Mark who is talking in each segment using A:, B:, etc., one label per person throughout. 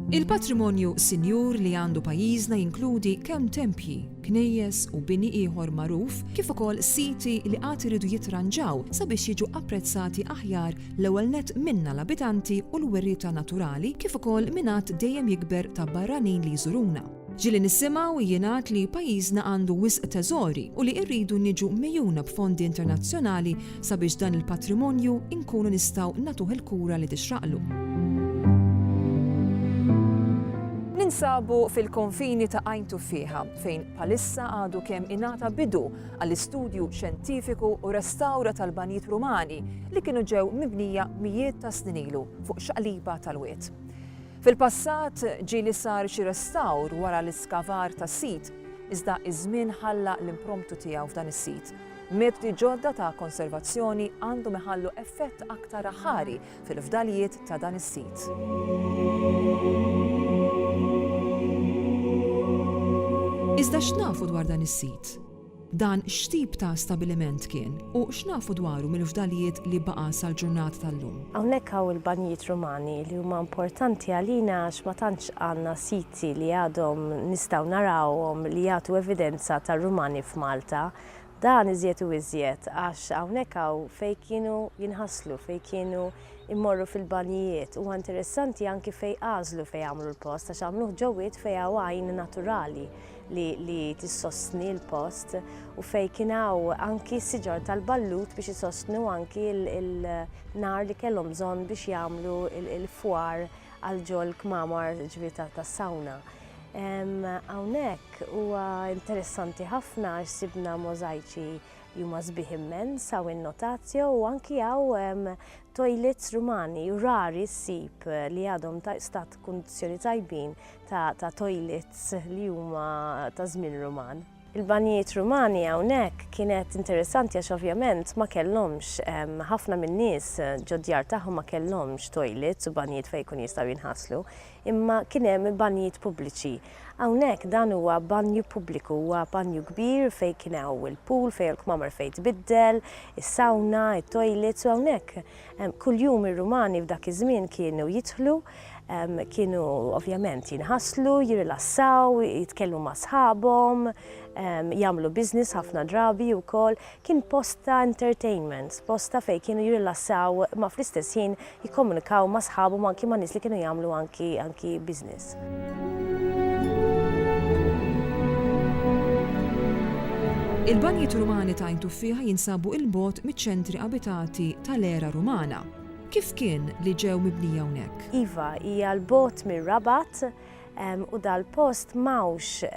A: Il-patrimonju sinjur li għandu pajjiżna jinkludi kemm tempji, knejjes u bini ieħor magħruf kif ukoll siti li għad iridu jitranġaw sabiex jiġu apprezzati aħjar l-ewwel net minna l-abitanti u l-werrieta naturali kif ukoll minn għadd dejjem jikber ta' barranin li jżuruna. Ġieli nisimgħu u jingħad li pajjiżna għandu wisq teżori u li rridu niġu mgħejuna b'fondi internazzjonali sabiex dan il-patrimonju nkunu nistgħu nagħtuh il-kura li tixraqlu. Ninsabu fil-konfini ta' Għajn Tuffieħa fejn palissa għadu kemm ingħata bidu għall-istudju xjentifiku u restawra tal-banjiet Rumani li kienu ġew mibnija mijiet ta' snin ilu fuq xaqliba tal-wied. Fil-passat, ġieli sar xi restawr wara l-iskavar tas-sit, iżda ż-żmien ħalla l-impromptu tiegħu f'dan is-sit. Metodi ġodda ta' konservazzjoni għandhom iħallu effett aktar aħħari fil-fdalijiet ta' dan is-sit. Iżda x'nafu dwar dan is-sit? Dan x'tip ta' stabiliment kien, u x'nafu dwaru mill-fdalijiet li baqa' sal-ġurnata tal-lum? Hawnhekk hawn il-banjijiet Rumani li huma importanti għalina għax ma tantx għandna siti li għadhom nistgħu narawhom li jagħtu evidenza tar-Rumani f'Malta. Dan iżjed u iżjed għax hawnhekk hawn fejn kienu jinħaslu, fejn kienu jmorru fil-banjijiet. Huwa interessanti anki fejn għażlu fejn jagħmlu l-post għax għamluh ġo wied fejn hawn għajn naturali. li, li tissostni l-post u fej kien hawn anki siġar tal-ballut biex isostnu anki l-nar li kellhom bżonn biex jagħmlu l-fwar għal ġol kmamar ġbi tas-sawna. Hawnhekk huwa interessanti ħafna għax sibna możajċi li huma sbieħ immens, hawn in-notatio u anki hawn toilets Rumani u rari ssib li għadhom ta' stat kundizzjoni tajbin ta' toilets li huma ta' żmien Ruman. Il-banjijiet Rumani hawnhekk kienet interessanti għax ovvjament ma kellhomx ħafna min-nies ġod-djar tagħhom ma kellhomx toilets u banjijiet fejn jkunu jistgħu jinħaslu, imma kien hemm banjijiet pubbliċi. Hawnhekk dan huwa banju pubbliku, huwa banju kbir fejn kien hawn il-pool, fejn hawn il-kmamar fejn tbiddel, is-sawna, it-toilets u hawnhekk Kuljum ir-Rumani f'dak iż-żmien kienu jidħlu, kienu ovvjament jinħaslu, jirrilassaw, jitkellmu ma' sħabhom, jagħmlu business ħafna drabi wkoll. Kien post ta' entertainment, post ta' fejn kienu jirrilassaw ma' fl-istess ħin jikkomunikaw ma' sħabhom anki ma' nies li kienu jagħmlu anki anki business. Ġenerat. Il-banjiet Rumani ta' Għajn Tuffieħa jinsabu 'il bogħod miċ-ċentri abitati tal-era Rumana. Kif kien li ġew mibnija hawnhekk? Iva, hija 'l bogħod mir-Rabat u dal-post m'hawnx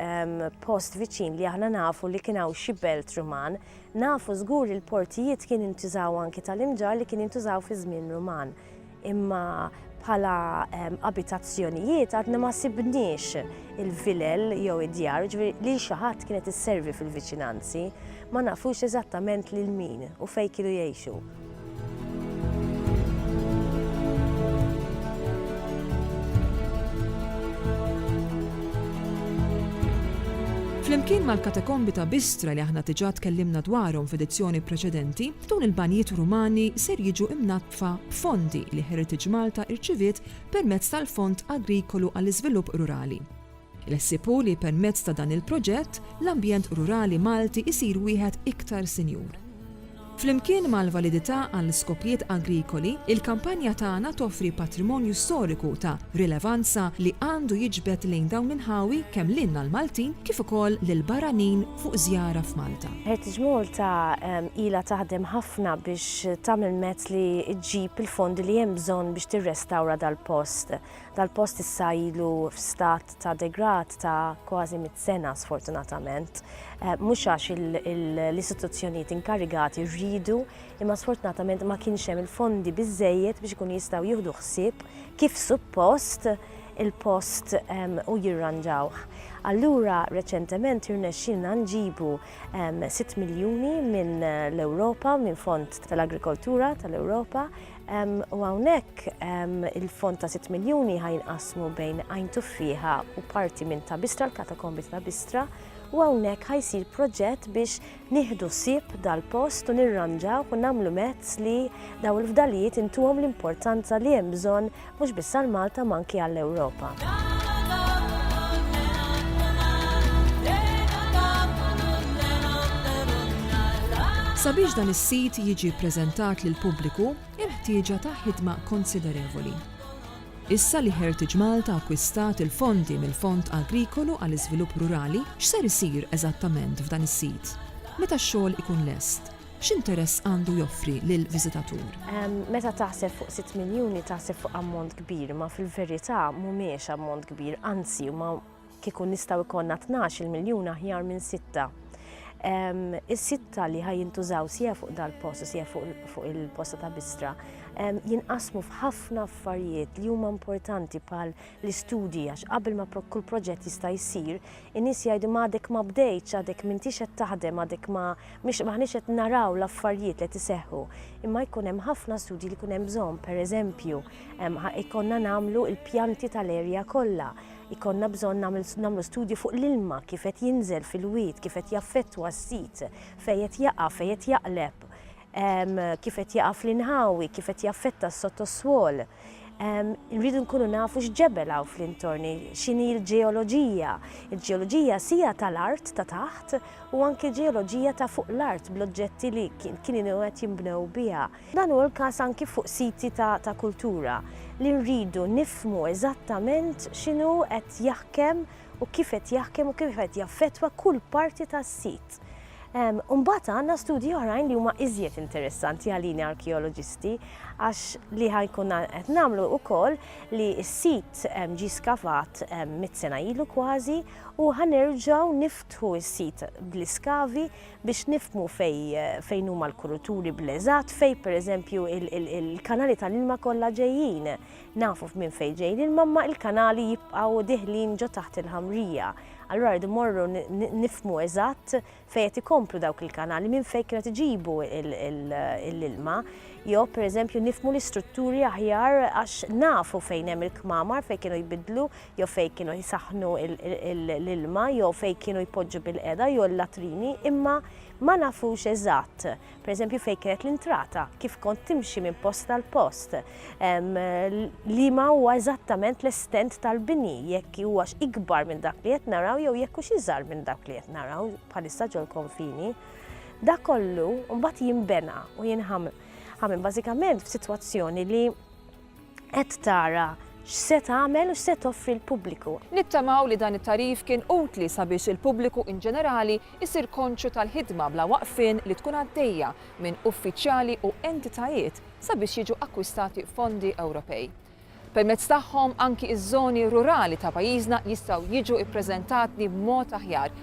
A: post viċin li aħna nafu li kien hawn xi belt Ruman. Nafu żgur li l-portijiet kien intużaw anki tal-imġarr li kien intużaw fiż-żmien Ruman. Imma bħala abitazzjonijiet għadna ma sibniex il-vilel jew id-djar, ġifieri lil xi ħadd kienet isservi fil-viċinanzi, ma nafux eżattament lil min u fejn kienu jgħixu. Flimkien mal-katakombi ta' Bistra li aħna diġà tkellimna dwarhom f'edizzjoni preċedenti, dawn il-banjiet Rumani ser jiġu imnaddfa fa' fondi li Heritage Malta irċiviet permezz tal-Fond Agrikolu għall-Iżvilupp Rurali. Il-ħsieb hu li permezz ta' dan il-proġett, l-ambjent rurali Malti jsir wieħed iktar sinjur. Flimkien mal-validità għal skopijiet agrikoli, il-kampanja tagħna toffri patrimonju storiku ta' rilevanza li għandu jiġbed lejn dawn l-inħawi kemm lilna l-Maltin kif ukoll lill-barranin fuq żjara f'Malta. Heritage Malta ilha taħdem ħafna biex tagħmel mezz li ġġib il-fondi li hemm bżonn biex tirrestawra dal-post. Dal-post issa ilu f'stat ta' degrad ta' kważi mit sena sfortunatament. Eh, mhux għax l-istituzzjonijiet inkarigati rridu, imma sfortunatament ma kienx hemm il-fondi biżejjed biex ikun jistgħu jieħdu ħsieb kif suppost il-post u jirranġawh. Allura reċentement irnexxielna nġibu sitt miljuni minn l-Ewropa, minn fond tal-agrikoltura tal-Ewropa, u hawnhekk il-fond ta' sitt miljuni ħa jinqasmu bejn Għajn Tuffieħa u parti minn Ta' Bistra, l-katakombi ta' Ta' Bistra, u hawnhekk ħa jsir proġett biex nieħdu ħsieb dal-post u nirranġawh u nagħmlu mezz li dawn il-fdalijiet intuhom l-importanza li hemm bżonn mhux biss għal Malta ma anki għall-Ewropa. Sabiex dan is-sit jiġi ppreżentat lill-pubbliku hemm ħtieġa ta' ħidma konsiderevoli. Issa li Heritage Malta akkwistat il-fondi mill-Fond Agrikolu għall-Iżvilupp Rurali, x'ser isir eżattament f'dan is-sit? Meta x-xogħol ikun lest, x'interess għandu joffri lill-viżitatur? Meta taħseb fuq sitt miljuni taħseb fuq ammont kbir, imma fil-verità mhumiex ammont kbir, anzi huma kieku nistgħu jkollna tnax-il miljun aħjar minn sitta. Is-sitta li ħaj jintużaw sija fuq dal-post u sija fuq il-posta ta' bistra jinqasmu f'ħafna affarijiet li huma importanti pal l-istudji għax qabel ma kull proġett jista' jsir, in-nies jgħidu m'għadek ma bdejtx, għadek m'intix qed taħdem, għadek ma maħniex qed naraw l-affarijiet li tiseħħu. Imma jkun hemm ħafna studji li jkun hemm bżonn, pereżempju, jkollna nagħmlu l-pjanti tal-erja kollha Ikollna bżonn nagħmlu studju fuq l-ilma kif qed jinżel fil-wied, kif qed jaffettwa s-sit, fejn qed jaqa', fejn qed jaqleb, kif qed jaqa' fl-inħawi, kif qed jaffetta s-sottoswol. Irridu nkunu nafu x'ġebel hawn fl-intorni, x'inhi l-ġeoloġija. Il-ġeoloġija sija tal-art ta' taħt u anki l-ġeoloġija ta' fuq l-art bl-oġġetti li kienu qed jinbnew biha. Dan hu l-każ anki fuq siti ta' kultura, li nridu nifhmu eżattament x'inhu qed jaħkem u kif qed jaħkem u kif qed jaffettwa kull parti tas-sit. U mbagħad għandna studji oħrajn li huma iżjed interessanti għalina arkeoloġisti għax li ħa jkun qed nagħmlu wkoll li s-sit ġie skavat mitt sena ilu kważi u ħa nerġgħu niftħu s-sit bl-iskavi biex nifhmu fejn huma l-kuruturi bl-eżatt, fejn pereżempju il-kanali tal-ilma kollha ġejjin. Nafu minn fejn ġej l-ilma imma l-kanali jibqgħu diħlin ġo taħt il-ħamrija. Allura rridu mmorru nifhmu eżatt fejn qed ikomplu dawk il-kanali, minn fejn kienu qed iġibu l-ilma. Jew pereżempju nifhmu l-istrutturi aħjar għax nafu fejn hemm il-kmamar fejn kienu jbiddlu jew fejn kienu jsaħħnu l-ilma jew fejn kienu jpoġġu bil-qeda jew l-latrini, imma ma nafux eżatt, pereżempju fejn kienet l-intrata, kif kont timxi minn post għal post, li ma huwa eżattament l-estent tal-bini, jekk huwax ikbar minn dak li qed naraw jew jekk hux iżgħar minn dak li qed naraw bħalissa ġol-konfini. Dak kollu mbagħad jinbena u jinħamm. Ħamm bażikament f'sitwazzjoni li Qed tara x'se tagħmel u x'se toffri l-pubbliku. Nittamaw li dan it-tagħrif kien utli sabiex il-pubbliku in ġenerali jsir konxju tal-ħidma bla waqfien li tkun għaddejja minn uffiċjali u entitajiet sabiex jiġu akkwistati fondi Ewropej. Permezz tagħhom anki ż-żoni rurali ta' pajjiżna jistgħu jiġu ppreżentatni b'mod aħjar